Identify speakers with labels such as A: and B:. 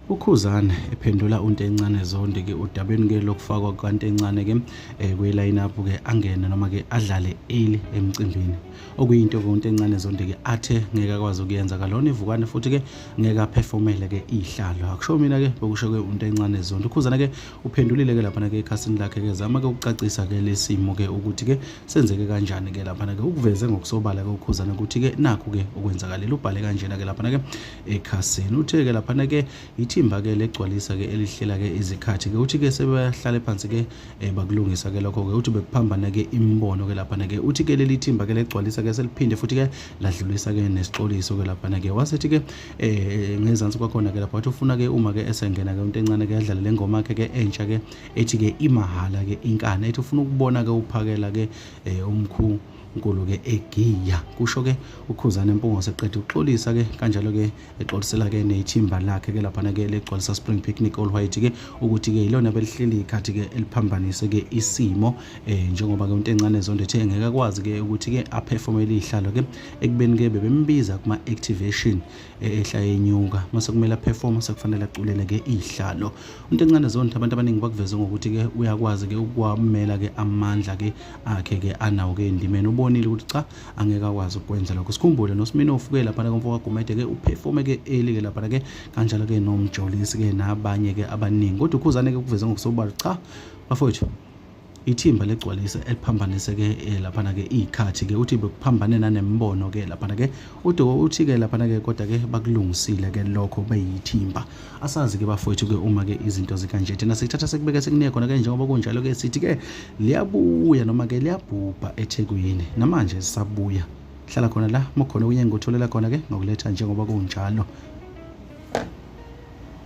A: ukhuzane ephendula untencane zonde ke udabeni ke lokufakwa kukantencane ke eh, kwiline up ke angene noma ke adlale early emcimbini okuyinto ke untencane zonde ke athe ngeke akwazi ukuyenza kalona ivukane futhi ke ngeke aperformele ke ihlalo akusho mina ke bokusho ke untencane zonde ukhuzane ke uphendulile-ke laphana-ke ekhasini lakhe-ke zama-ke ukucacisa-ke lesimo-ke ukuthi-ke senzeke kanjani-ke laphana-ke ukuveze ngokusobala-ke ukhuzana ukuthi-ke nakhu-ke okwenzakalile ubhale kanjena-ke laphana-ke ekhasini uthe-ke laphana-ke ithimba-ke legcwalisa-ke elihlela-ke izikhathi-ke uthi-ke sebehlale phansi-ke um bakulungisa-ke lokho-ke uthi bekuphambana-ke imibono-ke laphana-ke uthi-ke leli thimba-ke legcwalisa-ke seliphinde futhi-ke ladlulisa-ke nesixoliso-ke laphana-ke wasethi-ke eh ngezansi kwakhona ke lapho wathi ufuna ke uma ke esengena ke into encane ke yadlala lengoma yakhe ke entsha ke ethi ke imahala ke inkani ethi ufuna ukubona ke uphakela ke eh, umkhulu uNkulunkulu ke egiya kusho ke ukhuzana impungo seqede uxolisa ke kanjalo ke exolisela ke nethimba lakhe ke lapha ke legcwalisa spring picnic all white ke ukuthi ke ilona belihleli ikhathi ke eliphambanise ke isimo eh njengoba ke uNtencane Zondo ethe ngeke akwazi ke ukuthi ke aperformele ihlalo ke ekubeni ke bebembiza kuma activation eh, ehla yenyuka mase kumele perform sekufanele aculele ke ihlalo umuntu encane zonke abantu abaningi bakuveze ngokuthi ke uyakwazi ke ukwamela ke amandla ke akhe ke anawo ke endimeni ubonile ukuthi cha angeke akwazi ukwenza lokho sikhumbule nosimini ofuke lapha komfo kagumede ke uperforme ke eli ke lapha ke kanjalo ke nomjolisi ke nabanye ke abaningi kodwa ukhuzane ke kuveze ngokusobala cha bafowethu ithimba legcwalisa eliphambaniseke eh, laphana-ke iy'khathi-ke uthi bekuphambane nanembono-ke laphana-ke udowo uthi-ke laphana-ke kodwa-ke bakulungisile-ke lokho beyithimba asazi-ke bafowethu-ke uma-ke izinto zikanje thina sikuthatha sekubeke sekunie khona-ke njengoba kunjalo-ke sithi-ke liyabuya noma-ke liyabhubha ethekwini namanje sisabuya hlala khona la mokhona unyengo utholela khona-ke ngokuletha njengoba kunjalo